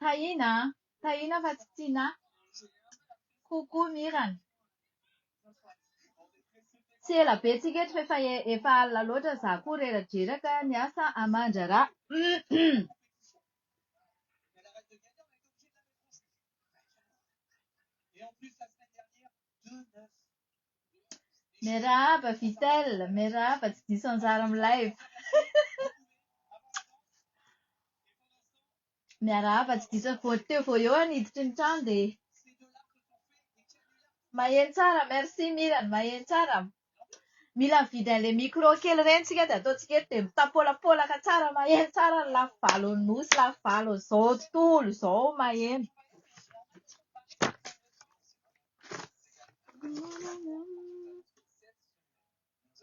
Tahiana an! Tahiana fa tsy tiana ahy. Coucou Mirana. Tsy ela be tsika eto fa efa efa alina loatra za koa reradreraka ny asa aman-draharaha. Miarahaba Vitel, miarahaba tsy diso anjara amin'ny live. Miarahaba tsy diso an- vao teo vao eo aho niditra ny trano dia Maheno tsara, merci Mirana, maheno tsara. Mila mividy an'ilay micro kely ireny isika dia ataontsika eto dia mitapolapolaka tsara maheno tsara ny lafy valo an'i Nosy, lafy valo an'izao tontolo izao maheno.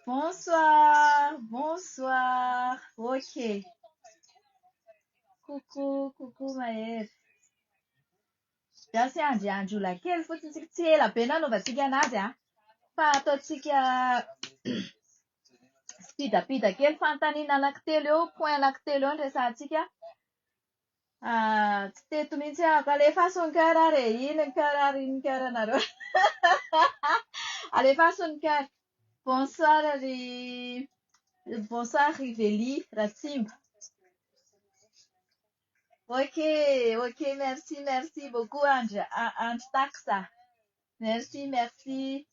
Bonsoir, bonsoir. Ok. Coucou, coucou Mahery. Gasy andry andry ola kely fotsiny tsika tsy ela be nanaovantsika anazy a. Fa ataontsika spidapida kely fanontaniana anankitelo eo, point anankitelo eo ny resahantsika. Ah tsy teto mihitsy aho, alefaso ny coeur ary e, inn ny coeur ary inn ny coeur nareo alefaso ny coeur. Bonsoir ry bonsoir ry Veli Ratsimba. Ok ok merci merci beaucoup Andry Andry Tax a. Merci merci.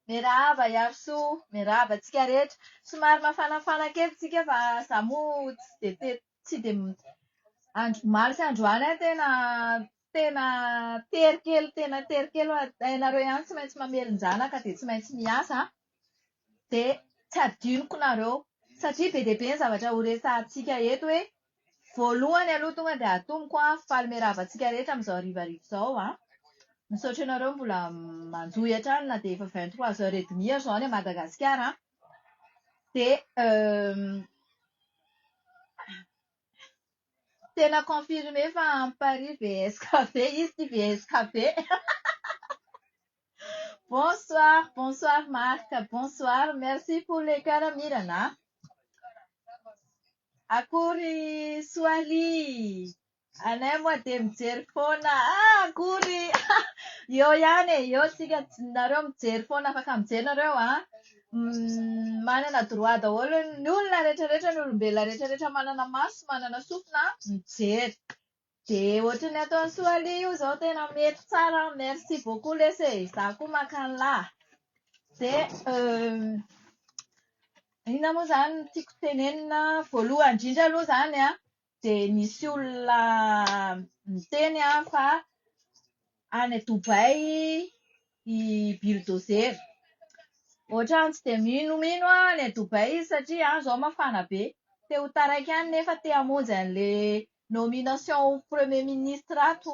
Miarahaba Iarisoa, miarahaba antsika rehetra. Somary mafanafana kely tsika fa za moa tsy dia teto. tsy dia andro omaly sy andro alina tena tena tery kely tena tery kely hoe ianareo ihany tsy maintsy mamelon-janaka dia tsy maintsy miasa an, dia tsy hadinoko nareo satria be dia be ny zavatra horesahantsika eto hoe voalohany aloha tonga dia atomiko an, faly miarahaba antsika rehetra amin'izao harivariva izao an, misaotra anareo mbola manjohy hatrany na dia efa vingt trois heures et demi ary izao any Madagasikara an. dia tena confirmé fa any Paris VSKB izy ity VSKB Bonsoir bonsoir Marc bonsoir merci pour les cœurs Mirana a Akory soirée Anay moa dia mijery foana ah akory eo ihany e, eo tsika nareo mijery foana afaka mijery nareo an, manana droit daholo ny olona retraretra ny olombelona retraretra manana maso sy manana sofina mijery dia ohatry ny ataon'i soalia io izao tena mety tsara an, merci beaucoup lesy e, izaho koa maka anla dia inona moa izany no tiako tenenina, voalohany indrindra aloha izany an, dia nisy olona niteny fa any Dubaï i Bulldozer. Ohatran'ny tsy dia minomino aho any Dubaï izy satria any izao mafana be. Te ho taraiky any nefa te hamonjy an'ilay nomination ho premier ministre ato.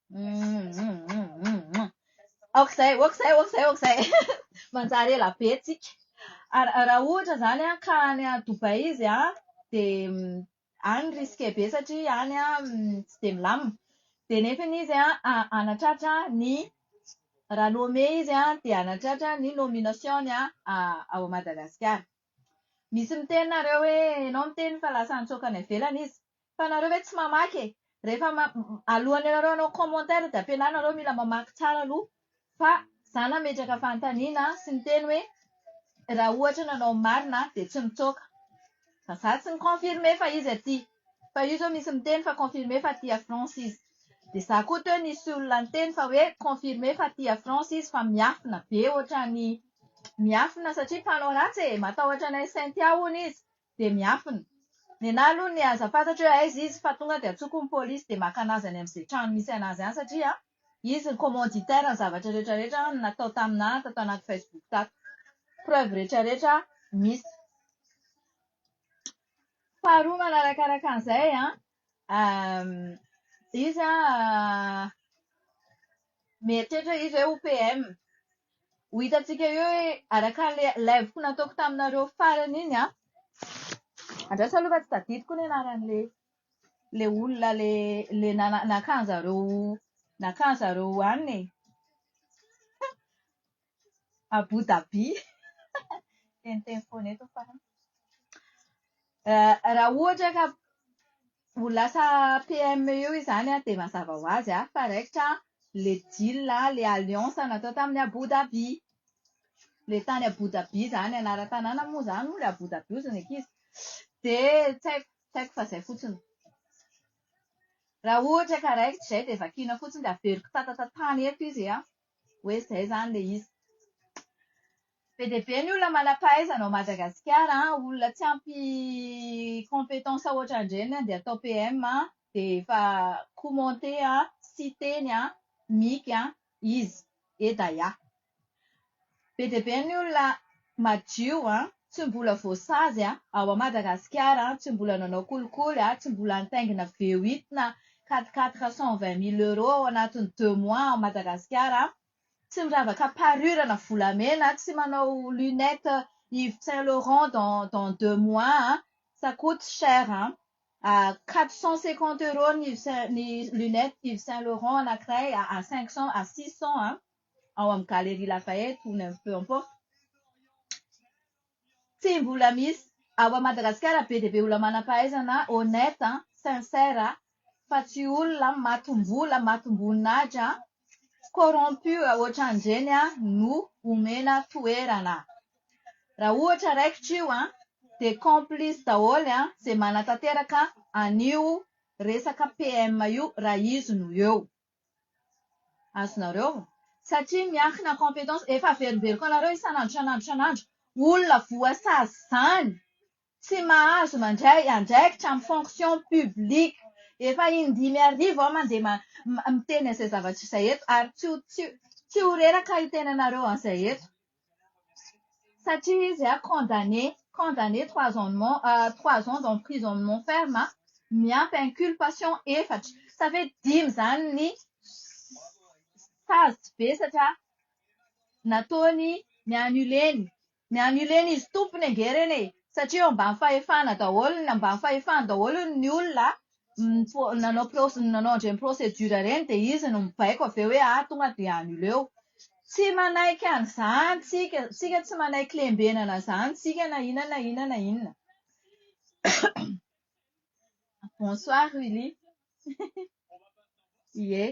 Aok'izay, aok'izay, aok'izay, aok'izay. Manjary ela be tsika. Raha ohatra izany ka any Dubaï izy an, dia any risqué be satria any tsy dia milamina. Dia nefa izy hanatratra ny, raha nommé izy dia hanatratra ny nomination-ny ao Madagasikara. Misy miteny nareo hoe enao miteny fa lasa nitsoaka any ivelany izy fa nareo ve tsy mamaky e! rehefa alohan'ny anareo hanao commentaire dia ampianaro nareo mila mamaky tsara aloha fa za nametraka fanontaniana sy niteny hoe raha ohatra nanao ny marina dia tsy mitsoaka fa za tsy ni-confirmer fa izy aty fa io zao misy miteny fa confirmer fa aty a France izy. Dia za koa teo nisy olona niteny fa hoe confirmé fa tia France izy fa miafina be ohatran'ny miafina satria mpanao ratsy e! matahotra anay Cynthia hono izy dia miafina. Nenaha aloha ny aza fantatro hoe aiza izy fa tonga dia antsoko ny polisy dia maka anazy any amin'izay trano misy anazy any satria izy ny commanditaire ny zavatra rehetra rehetra no natao tamin'ahy tato anaty Facebook tato. Preuve rehetra rehetra misy. Faharoa manarakaraka an'izay an! Izy an, mieritreritra izy hoe ho PM. Ho hitantsika eo hoe araka an'ilay live-ko nataoko taminareo farany iny an, andraso aloha fa tsy tadidiko ny anaran'ilay ilay olona ilay naka an'izareo naka an'izareo any e. Abu Dhabi, teniteny foana eto fa. Raha ohatra ka ho lasa PM eo izany dia mazava ho azy fa raikitra ilay deal, ilay alliance natao tamin'i Abu Dhabi. Ilay tany Abu Dhabi izany, anaran-tanàna moa izany hono ilay Abu Dhabi hozy ny ankizy. Dia tsy haiko, tsy haiko fa izay fotsiny. Raha ohatra ka raikitra izay dia vakiana fotsiny dia averiko tatatantany eto izy an! hoe izay izany ilay izy. Be dia be ny olona manam-pahaizana ao Madagasikara, olona tsy ampy compétence hoatrandreny dia atao PM dia efa commenter Siteny, Mika, izy, Edaya. Be dia be ny olona madio an, tsy mbola voasazy an, ao Madagasikara an, tsy mbola nanao kolikoly an, tsy mbola nitaingina V8 na quatre quatre cent vingt mille euros ao anatin'ny deux mois ao Madagasikara an, tsy miravaka parure na volamena an, tsy manao lunette Yves Saint Laurent dans dans deux mois an, ça coute cher an, à quatre cent cinquante euros ny Yves Saint ny lunette Yves Saint Laurent anankiray à cinq cent à six cent an. ao amin'ny Galerie Lafayette ou n'importe peu importe, tsy mbola misy ao Madagasikara be dia be olona manam-pahaizana honnête, sincère fa tsy olona matim-bola, matim-boninahitra, corrompu ohatran'ireny no omena toerana. Raha ohatra raikitra io dia complice daholo izay manatanteraka an'io resaka PM io raha izy no eo. azonareo satria miankina compétence efa averimberiko anareo isan'andro isan'andro isan'andro olona voasazy izany tsy mahazo mandray andraikitra amin'ny fonction publique efa indimy arivo aho mandeha miteny an'izay zavatra izay eto ary tsy ho reraka ny tenanareo an'izay eto Satria izy an, condamné, condamné trois ans de mon- trois ans d'emprisonnement ferme miampy inculpation efatra. Sa ve dimy izany ny sazy vesatra nataony ni-annuler-ny? Ni-annuler-n'izy tompony ange ireny e! Satria eo ambany fahefana daholo ny, ambany fahefany daholo ny olona nanao proce- nanao an'ireny procédure ireny dia izy no mibaiko avy eo hoe ah tonga dia annuleo. Tsy manaiky an'izany tsika, tsika tsy manaiky lembenana izany tsika na inona na inona na inona. Bonsoir Willy. Ie.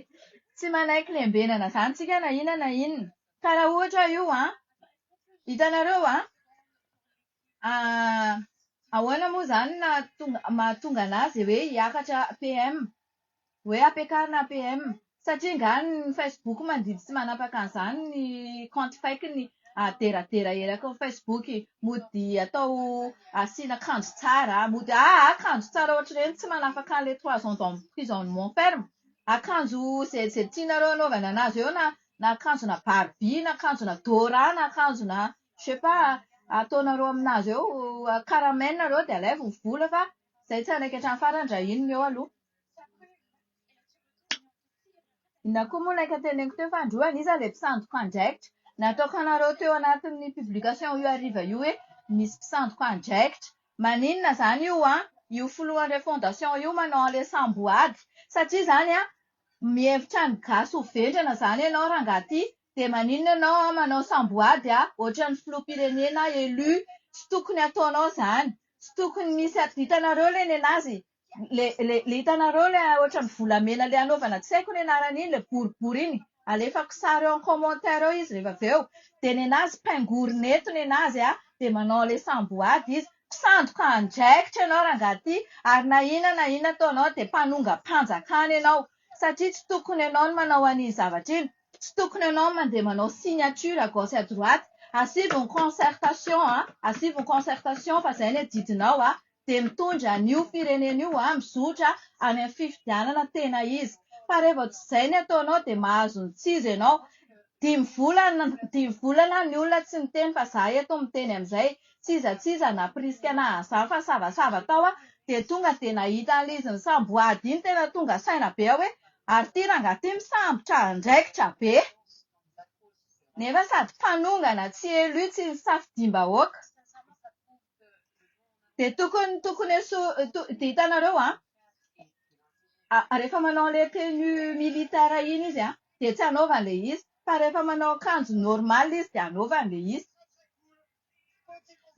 Tsy manaiky lembenana izany tsika na inona na inona. Ka raha ohatra io an, hitanareo an, Aah! Ahoana moa izany no mahatonga an'azy hoe hiakatra PM? Hoe hampiakarina APM? Satria angaha ny Facebook mandidy sy manapaka an'izany ny kaonty fake-ny aderadera eraky ny Facebook? Mody atao asiana kanjo tsara, mody ah ah kanjo tsara ohatr'ireny tsy manafaka an'ilay trois ans d'emprisonnement ferme. Akanjo izay izay tianareo hanaovana an'azy eo na na akanjona barbie na akanjona dora na akanjona Je sais pas, ataonareo aminazy eo caramel nareo dia alaivo ny vola fa izay tsy hanaiky hatramin'ny farany raha iny no eo aloha. Inona koa moa ilay kateneniko teo fa androany an, iza ilay mpisandoka andraikitra? Nataoko anareo teo anatin'ny publication io hariva io hoe misy mpisandoka andraikitra. Maninona izany io an? Io filohan'ireo fondation io manao an'ilay samboady satria izany an, mihevitra ny gasy ho vendrana izany ianao rangahy ity Dia maninona ianao an manao samboady an, ohatran'ny filoham-pirenena élu, tsy tokony ataonao izany, tsy tokony misy at, hitanareo ilay nenazy, le le le hitanareo ilay ohatran'ny volamena ilay anaovana tsy haiko ny anarany iny ilay boribory iny, alefako sary eo en commentaire eo izy rehefa avy eo, dia nenazy pingorina eto nenazy an, dia manao ilay samboady izy, mpisandoka andraikitra ianao rangaha ty, ary na inona na inona ataonao dia mpanongam-panjakana ianao, satria tsy tokony ianao no manao an'iny zavatra iny, Tsy tokony anao mandeha manao signature à gauche et à droite, asivo ny concertation a, asivo ny concertation fa izay no adidinao a, dia mitondra an'io firenena io a, mizotra any amin'ny fifidianana tena izy. Fa raha vao tsy izay no ataonao dia mahazo ny tsy izy ianao. Dimy volana, dimy volana ny olona tsy niteny fa izaho eto miteny amin'izay. Tsy iza tsy iza nampirisika ahy nahazo izany fa nisavasava tao aho dia tonga dia nahita an'ilay izy nisamboady iny tena tonga saina be aho hoe Ary ity rangahy ity misambotra andraikitra be nefa sady mpanongana tsy élu tsy nisafidiam-bahoaka dia tokony tokony eso dia hitanareo an rehefa manao an'ilay tenue militaire iny izy an dia tsy anaovany ilay izy fa rehefa manao akanjo normal izy dia anaovany ilay izy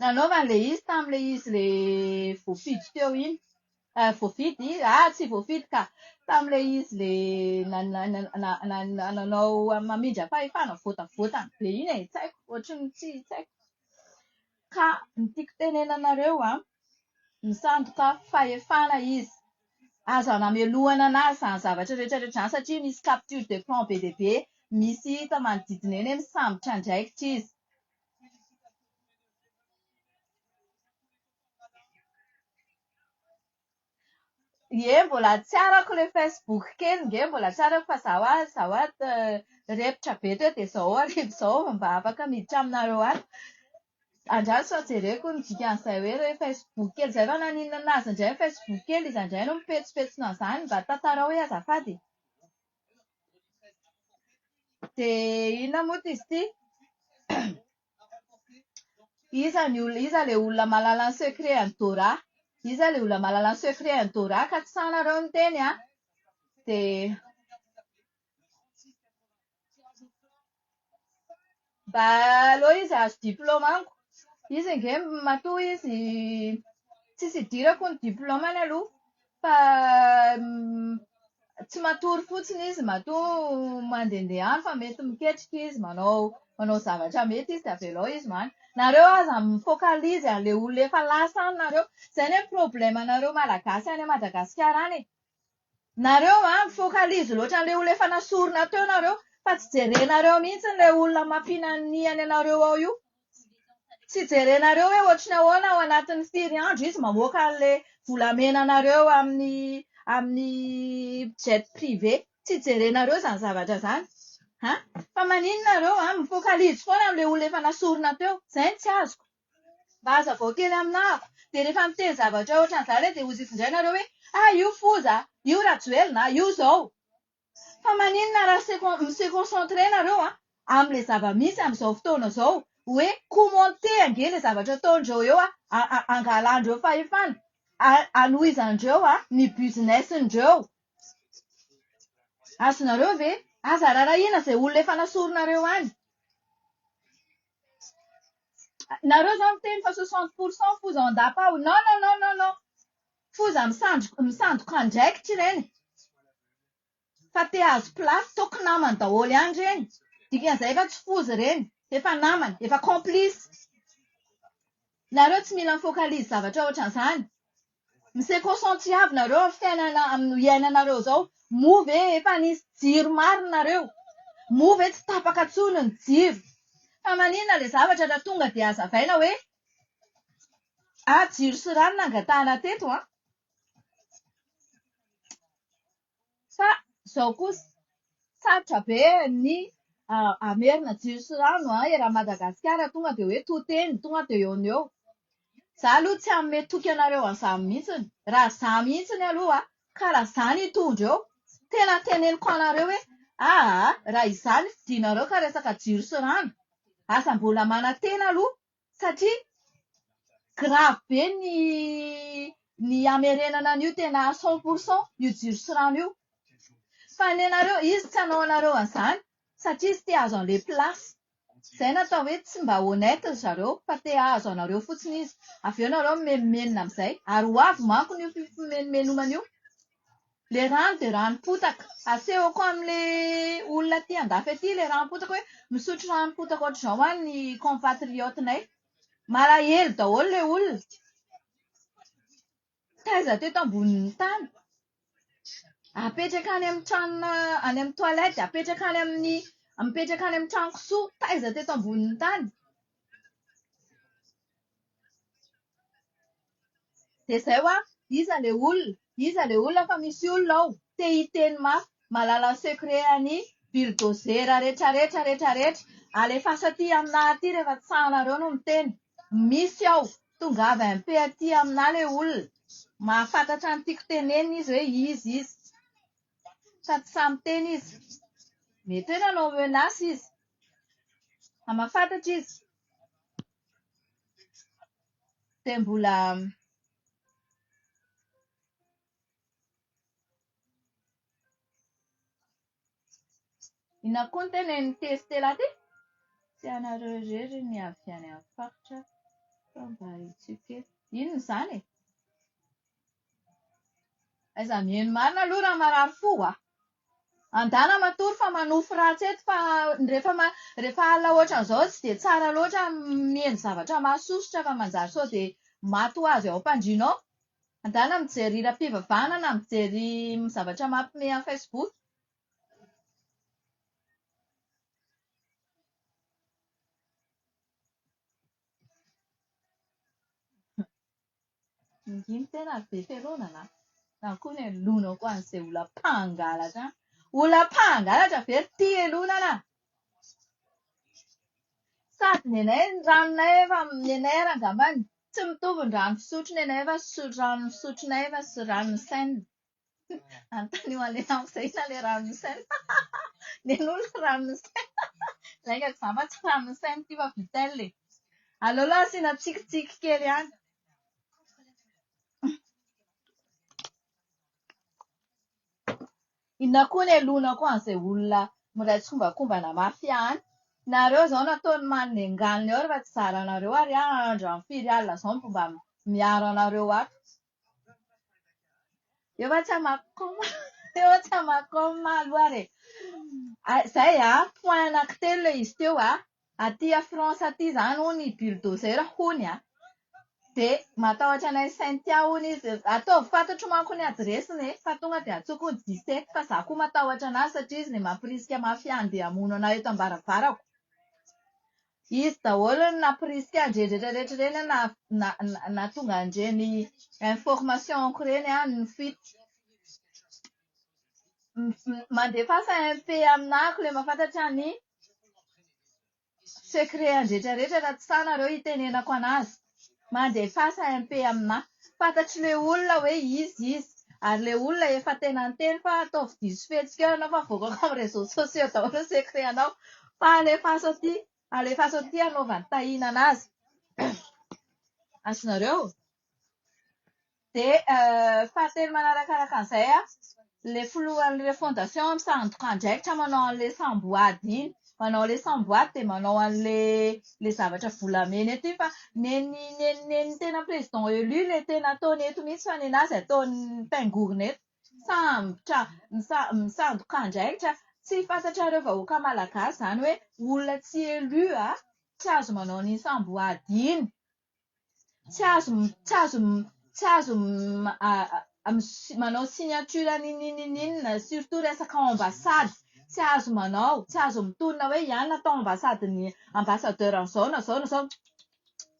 Nanaovany ilay izy tamin'ilay izy ilay voafidy teo iny. Voafidy? Aa tsy voafidy ka! Tamin'ilay izy ilay nanao mamindra fahefana, voatavoatany be iny e. Tsy haiko, ohatran'ny tsy haiko. Ka ny tiako tenenana anareo an, misandoka fahefana izy. Aza namelohana anazy izany zavatra rehetra rehetra izany satria misy capture d'écran be dia be. Misy hita manodidina eny hoe misambotra andraikitra izy. Ie mbola tsy arako ilay facebook kely nge mbola tsy arako fa za hoa za hoa repotra be teo dia zao hariva izao vao mba afaka miditra aminareo any. Andraso fa jereko ny dikan'izay hoe ilay facebook kely izay fa naninona azy indray ny facebook kely iza indray no mipetsopetsona an'izany mba tantarao hoe azafady e. Dia inona moa ity izy ity? Iza ny olona, iza ilay olona mahalala ny secret an'i Dora? Iza ilay olona mahalala ny secret an'i Dora ka tsy sahy nareo niteny an? Dia. Mba aleo izy hahazo diplaoma amiko. Izy ange matoa izy tsisy idirako ny diplaomany aloha fa tsy matory fotsiny izy matoa mandehandeha any fa mety miketrika izy manao manao zavatra mety izy dia avelao izy maty. Nareo aza mi-focalise an'ilay olona efa lasa any nareo. Izay anie ny problème-nareo Malagasy any Madagasikara any e. Nareo a, mifokalizy loatra an'ilay olona efa nasorina teo nareo fa tsy jerenareo mihitsy ilay olona mampiananiany anareo ao io. Tsy jerenareo hoe ohatry ny ahoana ao anatin'ny firy andro izy mamoaka an'ilay volamena anareo amin'ny amin'ny jet privé. Tsy jerenareo izany zavatra izany. An? Fa maninona nareo a, mifokalizy foana amin'ilay olona efa nasorina teo. Izay no tsy azoko. Mba hazavao kely aminahako. Dia rehefa miteny zavatra ohatran'izany re dia hozy findraina nareo hoe ah io foza, io rajoelina, io zao. Fa maninona raha se mi-se concentrer nareo amin'ilay zava-misy amin'izao fotoana izao. Hoe commenter ange ilay zavatra ataondreo eo angalandreo fahefana. Anohizandreo ny business-ndreo. Azonareo ve? Aza rarahina izay olona efa nasoronareo any. Nareo zany miteny fa soixante pour cent foza ao an-dapa ao, non non non non non, foza misandro- misandoka andraikitra ireny fa te hahazo place, toaka namany daholo ihany ireny, dikan'izay efa tsy foza ireny, efa namany, efa complice. Nareo tsy mila mi-focalise zavatra ohatran'izany. Mi se concentriave nareo am fiainana am no iainanareo zao moa ve efa nisy jiro marina nareo moa ve tsy tapaka tsony ny jiro fa maninona le zavatra ra tonga de azavaina hoe ah jiro sy rano nangatahana teto an. Fa zao kosa sarotra be ny hamerina jiro sy rano an, eran'i Madagasikara tonga dia hoe to teny, tonga dia eo no eo. Za aloha tsy hanome toky anareo an'izany mihitsiny, raha za mihitsiny aloha an, ka raha za no hitondra eo, tena teneniko anareo hoe aa, raha izany ny fidinareo ka resaka jiro sy rano, aza mbola manantena aloha satria grave be ny ny hamerenana an'io tena à cent pour cent io jiro sy rano io. Fa ny anareo, izy tsy hanao anareo an'izany satria izy te hahazo an'ilay place. Izay no atao hoe tsy mba honnête ry zareo fa te hahazo anareo fotsiny izy. Avy eo nareo mimenomenona amin'izay. Ary ho avy manko io fimenomenomana io. Ilay rano dia ranom-potaka. Asehoko amin'ilay olona aty andafy aty ilay ranom-potaka hoe misotro ranom-potaka ohatr'izao any ny compatriotes-nay. Malahelo daholo ilay olona. Taiza teto ambonin'ny tany. Apetraka any amin'ny tranona, any amin'ny toilettes, apetraka any amin'ny, mipetraka any amin'ny trano kisoa. Taiza teto ambonin'ny tany. Dia izay hoa, iza le olona? Iza le olona fa misy olona ao te hiteny mafy mahalala ny secret an'i Bulldozer retraretra retraretra. Alefaso aty aminà aty rehefa tsy sahanareo no miteny. Misy ao. Tongava MP aty aminà le olona. Mahafantatra ny tiako tenenina izy hoe iza izy. Fa tsy sahy miteny izy. Mety hoe nanao menace izy. Fa mahafantatra izy. dia mbola Inona koa ny tena ny testela aty? Tsy anareo irery ny avy any amin'ny faritra fa mba hitsio kely. Inona izany e? Aiza miheno marina aloha raha marary fo a! Andala matory fa manofy ratsy eto fa rehefa ma- rehefa alina ohatran'izao tsy dia tsara loatra m- mihaino zavatra mahasosotra fa manjary sao dia maty ho azy ao am-pandriana ao. Andala mijery hiram-pivavahana na mijery zavatra mampihomehy amin'ny Facebook. Manginy tena ary be fialonana an! Na koa ny elonao koa an'izay olona mpangalatra an! Olona mpangalatra ve ry tia elonana? Sady ny anay ny ranonay efa ny anay ary angambany tsy mitovy ny rano fisotro ny anay fa rano fisotronay fa tsy rano nisainina. Anontanio an'ilay namako izay inona ilay ranon'i Sen. Nen'olona ranon'i Sen. Laingako za fa tsy ranon'i Sen ity fa Vittel e. Aleo aloha asiana tsikitsiky kely ihany. Inona koa ny helonako an'izay olona miray tsikombakombana mafia any. Nareo izao nataon'ny manome nganony ao rehefa tsy zaranareo ary aho andro amin'ny firy alina izao no mba miaro anareo ato. Eo fa tsy amakoma eo fa tsy amakoma aloha ary e! Izay an, point anankitelo ilay izy teo an, aty à France aty izany hono i bulldozer hono an, dia matahotra anay Cynthia hono izy, ataovy fantatro manko ny adiresiny e, fa tonga dia antsoiko hono Jisette fa izaho koa matahotra an'azy satria izy ilay mampirisika mafia handeha hamono an'ahy eto am-baravarako. Izy daholo no nampirisika an'ireny rehetra rehetra ireny na nahatonga an'ireny informations-ko ireny aho nifidy. Mandefasa MP aminà ko ilay mahafantatra ny secret-any rehetra rehetra raha tsy sahy nareo hitenenako an'azy. mandefasa MP aminà. Fantatry le olona hoe izy izy. Ary le olona efa tena niteny fa ataovy diso fihetsika eo ianao fa avoakako amin'ny réseaux sociaux daholo ny secret anao fa alefaso aty alefaso aty hanaovany tahinana azy. Azonareo? Dia fahatelo manaraka araka an'izay an, ilay filohan'ilay fondation an, misandoka andraikitra manao an'ilay samboady iny. Manao an'ilay samboady dia manao an'ilay zavatra volamena eto iny fa nen'ny nen'ny nen'ny tena président élu ilay tena ataony eto mihitsy fa nenazy ataon'ny mpingorona eto. Misambotra, misandoka andraikitra. Tsy fantatrareo vahoaka malagasy izany hoe olona tsy élu an, tsy azo manao an'iny samboady iny. tsy azo tsy azo tsy azo manao signature n'inon'inon'inona surtout resaka ao ambasady tsy azo manao tsy azo mitonona hoe hianona tao ambasadin'ny ambassadeur an'izao na izao na izao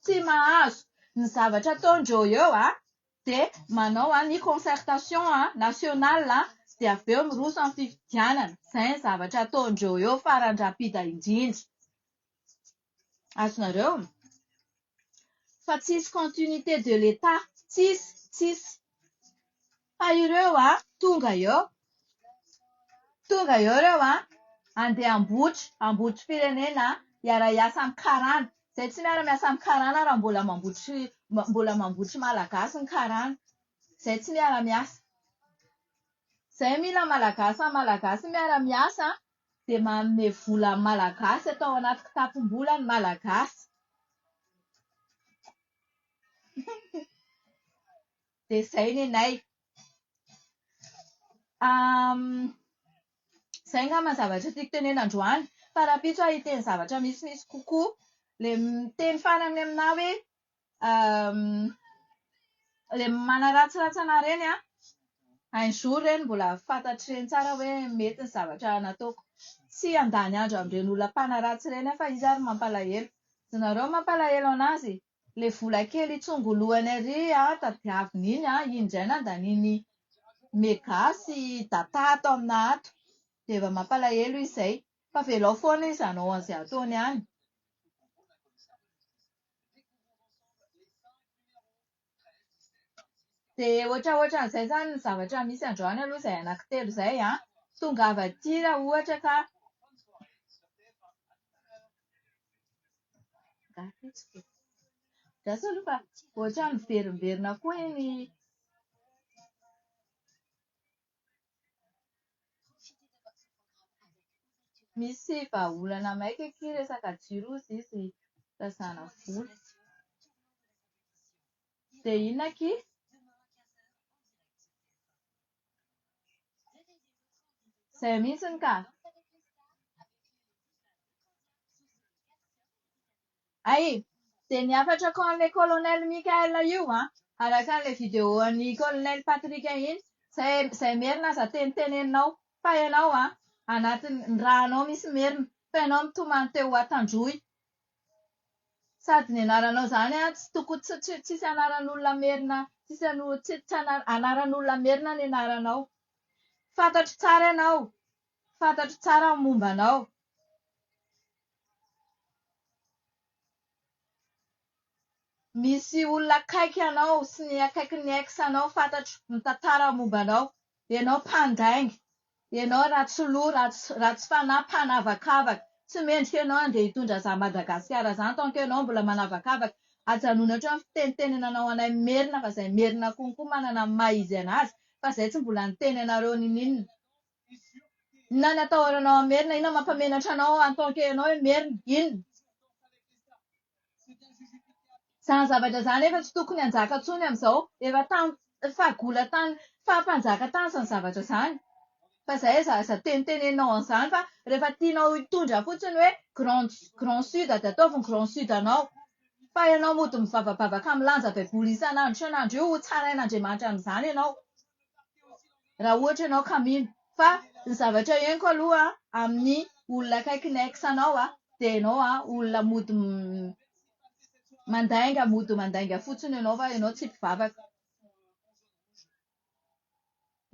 tsy mahazo ny zavatra ataondreo eo an dia manao an ny concertation an national an dia avy eo miroso amin'ny fifidianana izay ny zavatra ataondreo eo faran-dRapida indrindra azonareo fa tsisy continuité de l'Etat tsisy tsisy fa ireo a tonga eo tonga eo ireo a andeha ambotry ambotry firenena hiara hiasa amin'ny karana izay tsy miara miasa amin'ny karana raha mbola mambotry mbola mambotry malagasy ny karana izay tsy miara miasa izay mila malagasy amin'ny malagasy miara miasa Tsy dia manome vola amin'ny Malagasy atao anaty kitapom-bola ny Malagasy. Dia izay nenay. Izay angamba ny zavatra tiako tenenina androany. Fa rahampitso aho hiteny zavatra misimisy kokoa. Ilay miteny farany aminà hoe le manaratsiratsy anah ireny an, un jour ireny mbola fantatr'ireny tsara hoe mety ny zavatra nataoko. Tsy handany andro amin'ireny olona mpanaratsy ireny aho fa izy ary mampalahelo. Izy nareo mampalahelo an'azy, ilay vola kely hitsongolohany ary tadiaviny iny an, iny indray nandaniany mega sy data ato aminà ato. Dia efa mampalahelo izy izay. Fa velao foana izy hanao izay ataony any. Dia hoatran'izay izany ny zavatra misy androany aloha izay anankitelo izay an! Tongava aty raha ohatra ka. Gasy aloha fa ohatran'ny miverimberina koa iny. Misy vahaolana maika akia resaka jiro ozy izy tazana vola. De inona akia? Zay mihitsiny ka. Hay! Dia ny hafatrako an'ilay Colonel Michael io an! Araka an'ilay vidéo an'i Colonel Patrick iny, izay izay merina aza teny teneninao, fa ianao an! Anatin'ny, ny raha anao misy merina, fa ianao mitomany te ho Antandroy! Sady ny anaranao izany an, tsy toko, tsy, tsy, tsisy anaran'olona merina, tsisy ano, tsy, tsy ana, anaran'olona merina ny anaranao! Fantatro tsara ianao! Fantatro tsara ny momba anao. Misy olona akaiky anao sy ny akaikin'ny ex anao fantatro mitantara ny momba anao. Ianao mpandainga. Ianao ratsy loha, ratsy fanahy, mpanavakavaka. Tsy mendrika ianao handeha hitondra izany Madagasikara izany tant que ianao mbola manavakavaka. Ajanony hatreo ny fitenitenenanao anay Merina fa izay Merina konko manana ny maha izy anazy fa izay tsy mbola niteny anareo ninoninona. Inona ny atahoranao an'i Merina? Inona no mampamenatra anao en tant que ianao i Merina? Inona? Izany zavatra izany efa tsy tokony hanjaka intsony amin'izao. Efa tany fahagola tany fahampanjaka tany izany zavatra izany. Fa izay aza aza teniteneninao an'izany fa rehefa tianao hitondra fotsiny hoe grand grand sud dia ataovy ny grand sud anao. Fa ianao mody mivavabavaka milanja baiboly isan'andro isan'andro io hotsarain'Andriamanitra amin'izany ianao. raha ohatra ianao ka mino fa ny zavatra henoko aloha amin'ny olona akaiky ny ex anao aho dia ianao aho olona mody mandainga mody mandainga fotsiny ianao fa ianao tsy mpivavaka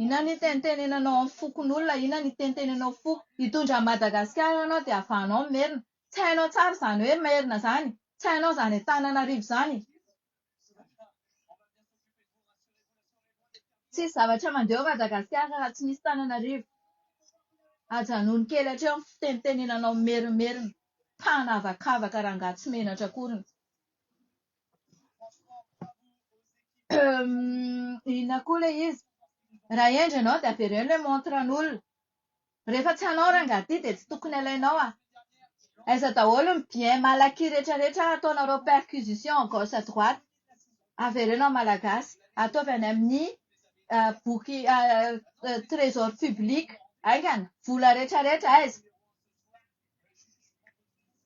inona ny itenitenenanao amin'ny fokonolona inona ny itenitenenao foko hitondra an'i madagasikara ianao dia havanao ny merina tsy hainao tsara izany hoe merina izany tsy hainao izany antananarivo izany Tsisy zavatra mandeha ao Madagasikara raha tsy misy Tananarivo. Ajanony kely hatreo ny fitenitenenanao mimerimerina. Mpanavakavaka rangahy tsy menatra akoriny. Inona koa ilay izy? Raha hendry ianao dia avereno ilay montre an'olona. Rehefa tsy anao rangah ity dia tsy tokony alainao a! Aiza daholo ny bien mal acquis rehetra rehetra ataonareo perquisition à gauche à droite? Avereno amin'ny Malagasy, ataovy any amin'ny boky trésor public haingana, vola rehetra rehetra aiza?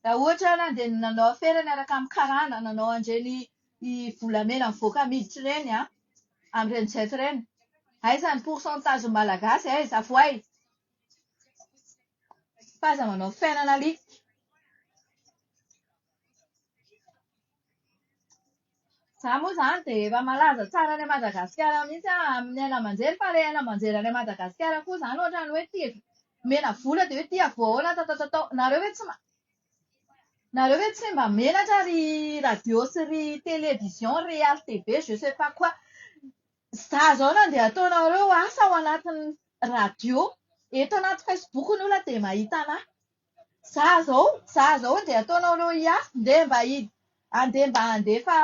Raha ohatra ary an, dia ny nanao afera niaraka amin'ny karana, nanao an'ireny volamena mivoaka miditra ireny an, amin'ireny jet ireny. Aiza ny pourcentage ny Malagasy e? Aiza? Avoay! Fa aza manao fiainana alika. Za moa izany dia efa malaza tsara any Madagasikara mihitsy aho amin'ny haino aman-jery fa ilay haino aman-jery any Madagasikara koa izany ohatran'ny hoe tia omena vola dia hoe tia voahoana tatatatao. Nareo ve tsy ma- nareo ve tsy mba menatra ry radio sy ry télévision, ry RTB, je sais pas quoi. Izaho izao nandeha ataonareo asa ao anatin'ny radio, eto anaty Facebook ny olona dia mahita an'ahy. Za zao, za zao andeha ataonao anao hiafy, ndeha mba hi- andeha mba handefa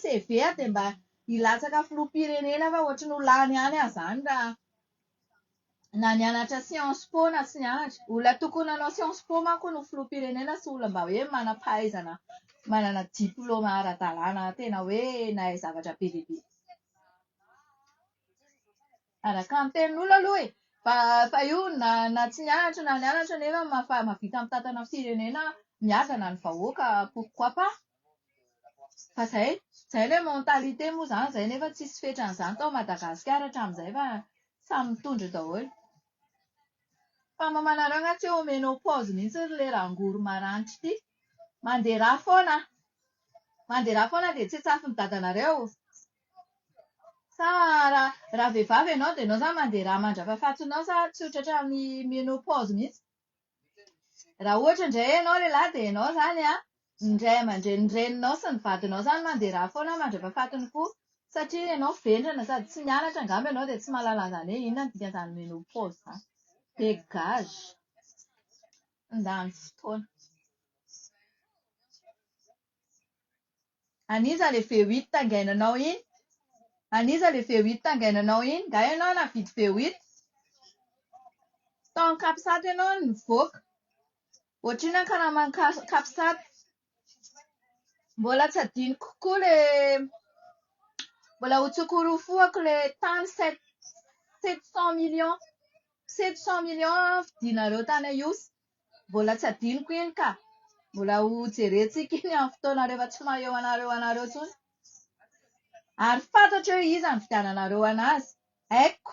CV dia mba hilatsaka filoham-pirenena fa ohatry ny ho lany ihany aho izany raha na nianatra science po na tsy nianatra. Olona tokony nanao science po manko no filoham-pirenena sy olona mba hoe manam-pahaizana, manana diplaoma ara-dalàna tena hoe nahay zavatra be dia be. Araka ny tenin'olona aloha e! Fa fa io na na tsy nianatra na nianatra nefa mafa- mahavita mitantana firenena miadana ny vahoaka pourquoi pas? Fa izay, izay ilay mentalité moa izany izay nefa tsisy fetran'izany tao Madagasikara hatramin'izay fa samy mitondra eo daholo. Fa mamanareo angaha tsy ho menopause mihitsy ry le rangory maranitra ity? Mandeha rà foana an! Mandeha rà foana dia tsy an-tsafin'ny dadanareo. Sa raha raha vehivavy ianao dia ianao izany mandera mandra-pahafatinao sa tsy ho tratran'ny menopause mihitsy? Raha ohatra indray ianao lehilahy dia ianao izany an, ny ray aman-drenin'ny reninao sy ny vadinao izany mandera foana mandra-pahafatiny koa. Satria ianao vendrana sady tsy nianatra angamba ianao dia tsy mahalala an'izany hoe inona ny dikan'izany menopause izany. Dégage! Mandany fotoana. An iza le V8 taingainanao iny? An iza le V8 taingainanao iny? Nga ianao navidy V8? Tao am capsat ianao no nivoaka. Ohatr'inona ny karaman'ny cas- capsat? Mbola tsy adinoko koa le, mbola ho tsokorofoko le tany sept sept cent millions, sept cent millions vidinareo tany Ihosy. Mbola tsy hadinoko iny ka. Mbola ho jerentsika iny amin'ny fotoana rehefa tsy maha eo anareo anareo intsony. Ary fantatro hoe iza ny fividiananareo an'azy. Haiko.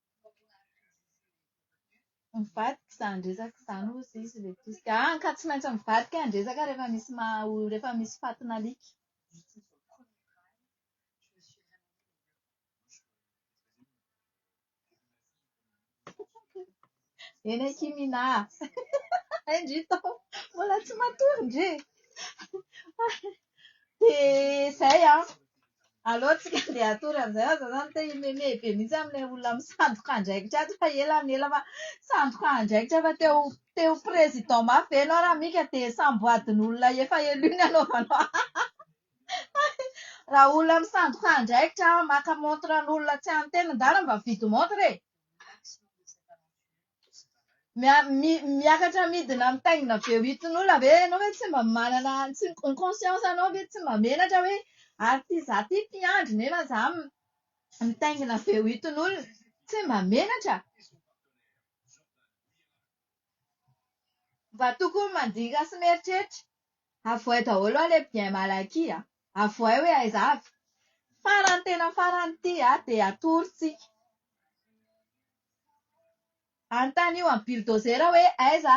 Mivadika izany resaka izany hozy izy ilay mpirisika. Hany ka tsy maintsy mivadika ny resaka rehefa misy maha olona, rehefa misy fatin'alika. Eny akia Minà a! Hay ndry Taho, mbola tsy matory ndry e! Dia izay an! Aleo tsika andeha hatory an'izay aza zany te himemehy be mihitsy amin'ilay olona misandoka andraikitra ato fa ela ny ela fa sandoka andraikitra fa te ho te ho président mafy ve ianao raha mika dia samboadin'olona efa élu ny anaovanao raha olona misandoka andraikitra maka montre an'olona tsy an'ny tenany dala mba mividy montre e Miakatra midina mitaingina be ho itin'olona ve ianao hoe tsy mba manana tsy ny conscience anao ve tsy mba menatra hoe ary ty za ty mpiandry nefa za mitaingina be ho itin'olona. Tsy mba menatra. Mba tokony mandinika sy mieritreritra. Avohay daholo aloha ilay bien mal acquis a! Avohay hoe aiza avy. Farany tena farany ity dia atorontsika. Anontanio an'i Bulldozer hoe aiza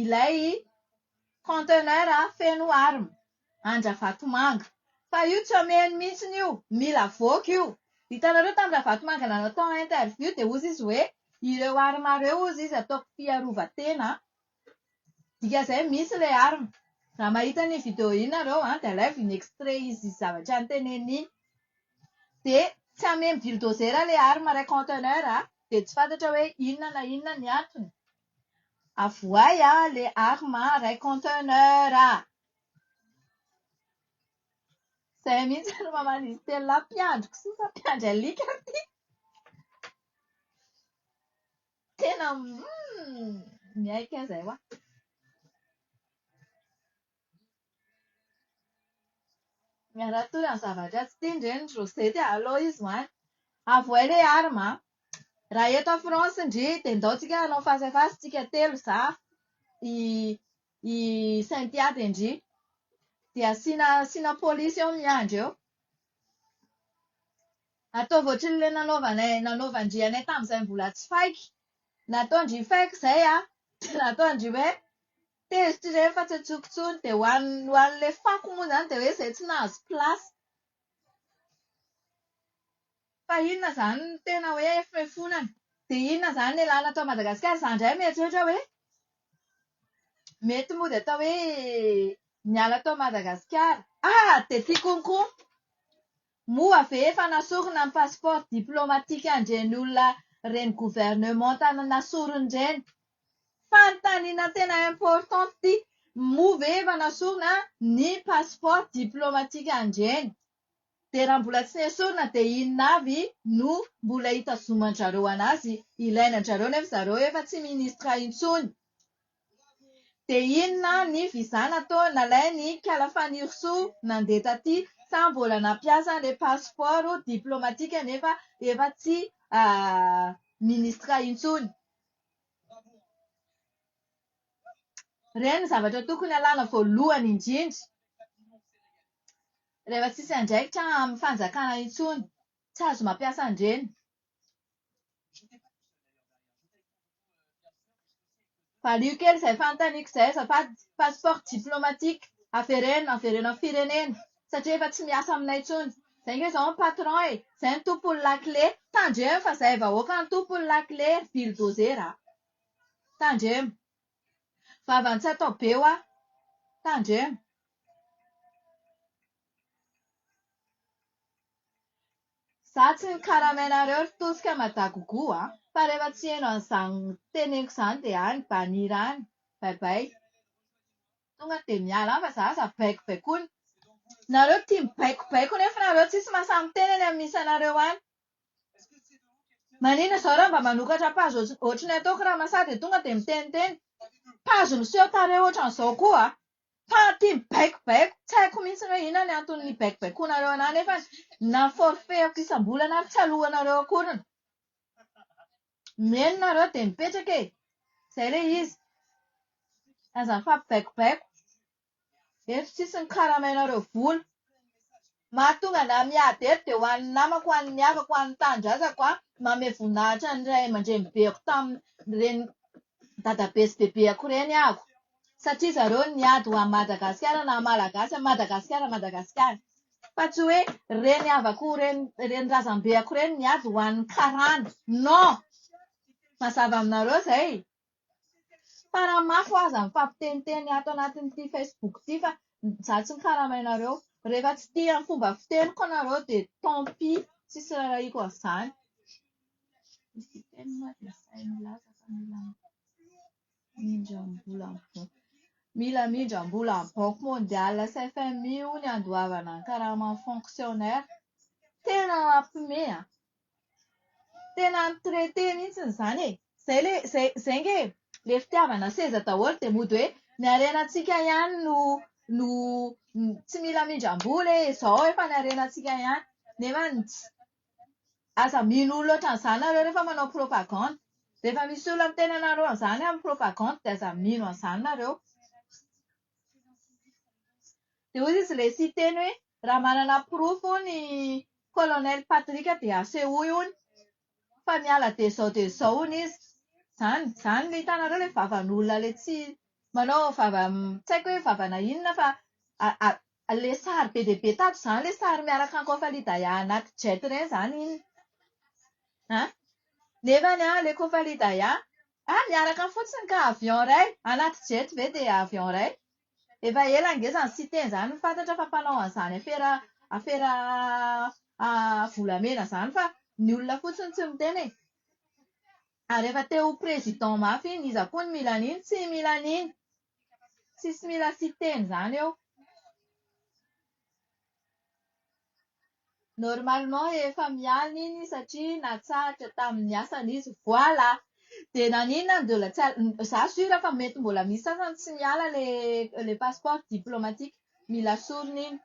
ilay conteneur feno armes. An-dRavatomanga. Fa io tsy omeny mihitsy io. Mila avoaka io. Hitanareo tamin'i Ravatomanga nanao tao interview dia hozy izy hoe ireo armes ireo hozy izy ataoko fiarovan-tena. Dika izay misy ilay arina. Raha mahita an'iny video iny ianareo dia alaivo iny extrait izy zavatra noteneniny iny. Dia tsy hameno bulldozer ilay arina iray conteneur dia tsy fantatra hoe inona na inona ny antony. Avoahy ilay arina iray conteneur. Izay mihitsy no maha an'izy telo lahy mpiandry kisoa sa mpiandry alika ity. Tena miaiky ahy izay hoa. Miara-tory amin'ny zavatra tsy tiany ireny ry Rosette a! Aleo izy ho any. Avouer les armes an! Raha eto à France ndry dia ndao tsika hanao face à face tsika telo, za, i i Cynthia dia ndry. Dia asiana asiana polisy eo miandry eo. Ataovy ohatrin'ny le nanaovanay nanaovan-dry anay tamin'izay mbola tsy faiky. Nataon-dry faiky izay aho dia nataon-dry hoe tezitra ireny fa tsy antsoiko intsony. Dia ho an'ny ho an'ilay fako moa izany dia hoe izay tsy nahazo place. Fa inona izany no tena hoe foefonana? Dia inona izany ny lalana ato Madagasikara? Izaho indray mieritreritra hoe mety moa dia atao hoe miala ato Madagasikara. Ah! Dia tiako koa. Moa ve efa nasorina ny passeport diplomatique andreny olona reny gouvernementa nasoriny reny? Fanontaniana tena importante ty, moa ve efa nasorina ny passeport diplomatique andreny? Dia raha mbola tsy nesorina dia inona avy no mbola itazoman-drareo anazy? Ilaina an-drareo nefa zareo efa tsy ministre intsony. Dia inona ny visa natao nalain'i Kala Fanirisoa nandeha taty sa mbola nampiasa an'ilay passeport diplomatique nefa efa tsy ministra intsony? Ireny no zavatra tokony alana voalohany indrindra rehefa tsisy andraikitra amin'ny fanjakana intsony. Tsy azo mampiasa an'ireny. Valio kely izay fanontaniako izay azafady, passeport diplomatique avereno avereno amin'ny firenena satria efa tsy miasa aminay intsony, izay ange izao ny patron e, izay ny tompony lakile, tandremo fa izay vahoaka no tompony lakile ry bulldozer a! tandremo, vavan'ny tsy atao be hoa, tandremo. Za tsy nikarama anareo ry tosika madagogo a! Fa rehefa tsy heno an'izany teneniko izany dia any banir any! Baibay! Tonga dia miala any fa za aza baiko baikoina. Nareo tia mibaiko baiko nefa nareo tsisy mahasahy miteny any amin'ny isanareo any. Maninona izao raha mba manokatra page ohatry ny ataoko ramasa dia tonga dia miteniteny. Page miseho tarehy ohatran'izao koa a! Fa ity mibaikobaiko, tsy haiko mihitsy hoe inona ny antony nibaikobaikonareo anah nefany na forfait-ako isam-bolana ary tsy alohanareo akoriny. Mieno nareo dia mipetraka e! Izay ilay izy. Aza mifampibaikobaiko. Eto tsisy ny karamainareo vola. Mahatonga anah miady eto dia ho an'ny namako, ho an'ny havako, ho an'ny tanindrazako aho manome voninahitra ny ray aman-drenibeko tamin'ireny dadabe sy bebeako ireny aho satria zareo no niady ho an'i Madagasikara naha Malagasy an'i Madagasikara an'i Madagasikara fa tsy hoe reny havako, reny razambeako ireny niady ho an'ny karana. Non! Mazava aminareo izay e! Taranak'o aza mifampiteniteny ato anatin'ity facebook ity fa za tsy mikarama ianareo. Rehefa tsy tia ny fomba fiteniko ianareo dia tant pis, tsy hisy rarahiako an'izany. Mila amindram-bola amin'ny banky mondiale sy FMI hono ny handoavana ny karaman'ny fonctionnaire. Tena mampiomehy an! Tena mi traiter mihitsy izany e. Izay ilay izay izay ange e. Ilay fitiavana seza daholo dia mody hoe ny harenantsika ihany no no tsy mila hamindram-bola e, izao efa ny harenantsika ihany. Nefa ts- aza mino olona ohatran'izany nareo rehefa manao propagande. Rehefa misy olona miteny anareo an'izany amin'ny propagande dia aza mino an'izany nareo. Dia hoy izy ilay siteny hoe, raha manana porofo hono i Colonel Patrick dia asehoy hono, fa miala dia izao dia izao hono izy. Izany. Izany ilay hitanareo ilay vavan'olona ilay tsy manao vava tsy haiko hoe vavana inona fa ilay sary be dia be tato izany, ilay sary miaraka an'i Kôfalidaya anaty jet indray izany iny. An? Nefany an, ilay Kôfalidaya, Fa miaraka fotsiny ka avion iray, anaty jet ve dia avion iray? Efa ela ange izany Siteny izany no fantatra fa mpanao an'izany afera afera volamena izany fa ny olona fotsiny tsy miteny e! Ary efa te ho président mafy iny, iza koa no mila an'iny? Tsy mila an'iny! Tsisy mila Siteny izany eo. Normalement efa miala iny satria natsahatra tamin'ny asany izy voilà! Dia naninona no mbola tsy al- izaho sûr fa mety mbola misy sasany tsy miala ilay ilay passeport diplomatique, mila sorona iny.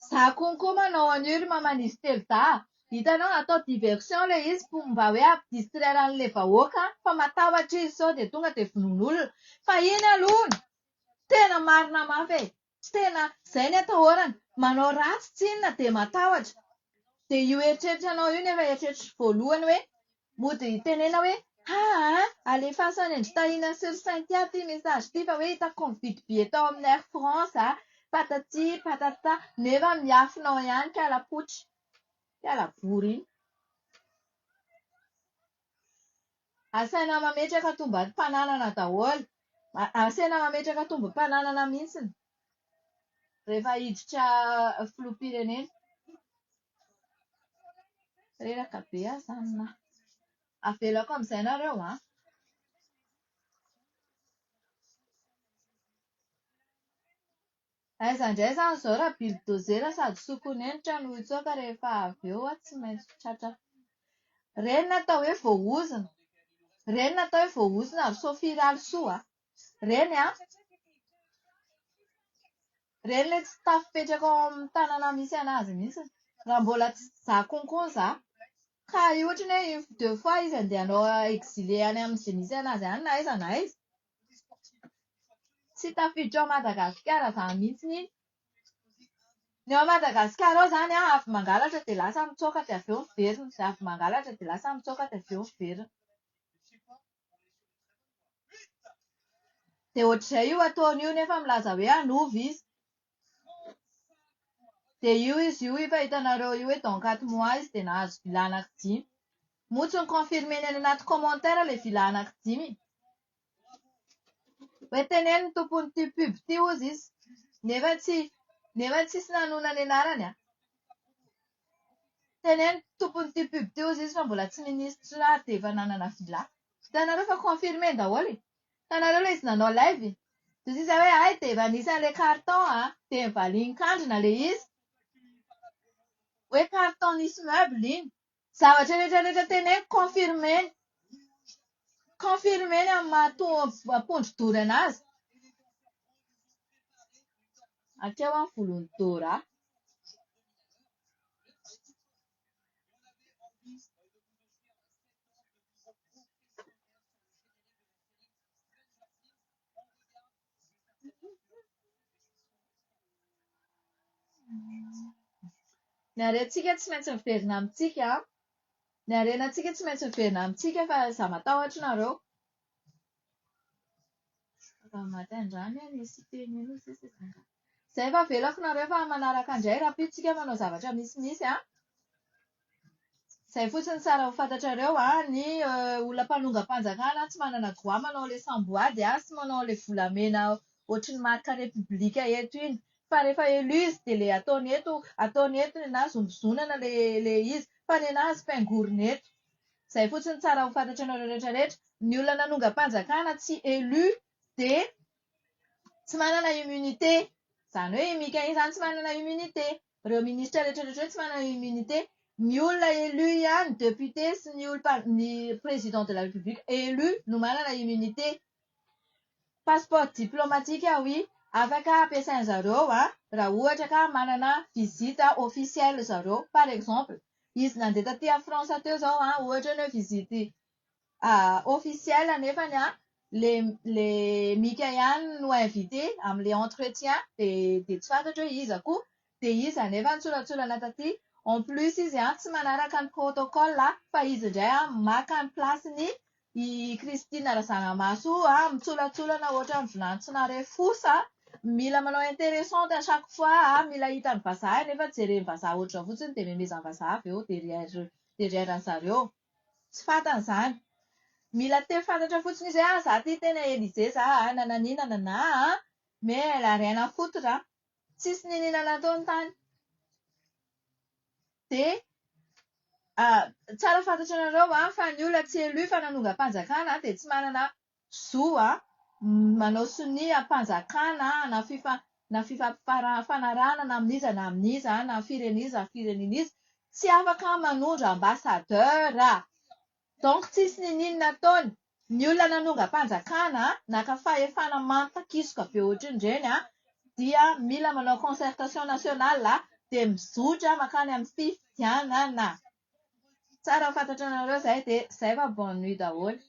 Za konko manao an'io ry maman'izy telo dahy a! Hitanao atao diversion ilay izy pour mba hoe hampidistraire an'ilay vahoaka an! fa matahotra izy sao dia tonga dia vonoina olona! fa iny aloha no tena marina mafy e! tena izay ny atahorana! manao ratsy tsy inona dia matahotra! dia io eritreritrao io no efa eritreritro voalohany hoe Mody hitenena hoe, haa, alefaso any an-dry Tahina sy ry Cynthia ity message ity fa hoe hitako mividy billet tao amin'ny Air France aho, patati patata, nefa miafina ao ihany ka lapoitra. Mpiala vory iny. Asaina mametraka tomban'ny fananana daholo. Asaina mametraka tombom-pananana mihitsy. rehefa hiditra filoham-pirenena. Reraka be aza amina. Avelako amin'izay nareo an! Aiza indray izany izao raha bildozer sady sokonenitra no hitsoaka rehefa avy eo an, tsy maintsy tratra. Ireny no atao hoe voaozona. Ireny no atao hoe voaozona ry Sophie Ralisoa a! Ireny an! Ireny ilay tsy tafipetraka ao amin'ny tanana misy an'azy mihitsy. Raha mbola tsy za kokoa za. Ka ohatra hoe une fois deux fois izy andeha hanao exilé any amin'izay misy an'azy any na aiza na aiza. Tsy tafiditra ao Madagasikara izany mihitsy iny. Ny ao Madagasikara ao izany an, avy mangalatra dia lasa mitsoaka dia avy eo miverina, avy mangalatra dia lasa mitsoaka dia avy eo miverina. Dia ohatr'izay io ataony io nefa milaza hoe hanova izy. Dia io izy io efa hitanareo io hoe donc ato mois izy dia nahazo villa anaky dimy. Moa tsy ni-confirmer-ny any anaty commentaire ilay villa anaky dimy e. Hoe teneno ny tompon'ity pub ity hozy izy. Nefa tsy nefa tsisy nanona ny anarany an. Teneno tompon'ity pub ity hozy izy fa mbola tsy ministra ary dia efa nanana villa. Hitanareo fa confirmé daholo e. Hitanareo ilay izy nanao live e. Dia sisa hoe hay dia efa nisy an'ilay carton a. Dia nivalian-kandrina ilay izy. Hoe carton nisy meuble iny. Zavatra rehetra rehetra teneniko confirmé. Confirmé ny amin'ny maha to- ampondra-dorana azy. Hatreo aho volon'i Dora. Ny harentsika tsy maintsy miverina amintsika an! Ny harenantsika tsy maintsy miverina amintsika fa izaho matahotra anareo. Izay efa avelako nareo fa manaraka indray rapito tsika manao zavatra misy misy an! Izay fotsiny tsara ho fantatrareo an! Ny olona mpanongam-panjakana tsy manana droit manao ilay samboady an! Sy manao ilay volamena ohatry ny marika repoblika eto iny! Fa rehefa élu izy dia ilay ataony eto ataony eto ny anà zombizonana ilay ilay izy! Fa ny anà azy pingorina eto! Zay fotsiny tsara ho fantatranareo rehetra rehetra, ny olona nanongam-panjakana tsy élu dia tsy manana immunité, zany hoe i Mika iny zany tsy manana immunité, reo ministra rehetra rehetra reo tsy manana immunité, ny olona élu ihany, député sy ny olom-pan- ny président de la république élu no manana immunité. Passeport diplomatique oui afaka ampiasain zareo a raha ohatra ka manana visite officielle zareo par exemple izy nandeha taty a France teo zao a ohatra ny hoe visite officielle nefany a le le mika ihany no invite amle entretien dia tsy fantatro hoe iza koa Dia izy anefa nitsolatsolana taty, en plus izy an tsy manaraka ny protocole an, fa izy indray an maka ny place ny i Christine Razanamaso io an, mitsolatsolana ohatran'ny vilany tsy nare fosy an, mila manao interessante à chaque fois an, mila hitan'ny vazaha nefa jeren'ny vazaha ohatr'izao fotsiny dia memezan'ny vazaha avy eo derrière derrière an'i zareo. Tsy fantany izany. Mila te fantatra fotsiny izy hoe an za ty tena Elysée za an, nanan'ia nananà an, mais elle a rien à foutre an. Tsisy niniana natao ny tany. Dia tsara fantatranareo fa ny olona tsy élu fa nanongam-panjakana dia tsy manana zo manao sonia am-panjakana na na fifanarahana na amin'iza na amin'iza na firen'iza na firenen'iza. Tsy afaka manondro ambassadeur. Donc tsisy nininona ataony Ny olona nanongam-panjakana naka fahefana manta kisoka be ohatrin'ireny a dia mila manao concertation national a dia mizotra makany amin'ny fifidianana Tsara ho fantatranareo izay dia zay fa bonne nuit daholo.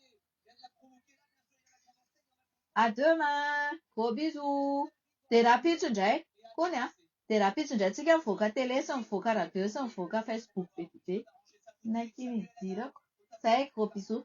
À demain! Gros bisous! Dia rahampitso indray, kony an! Dia rahampitso indray tsika mivoaka télé sy mivoaka radio sy mivoaka facebook be dia be. Naiky ny hidirako. Zay, gros bisous.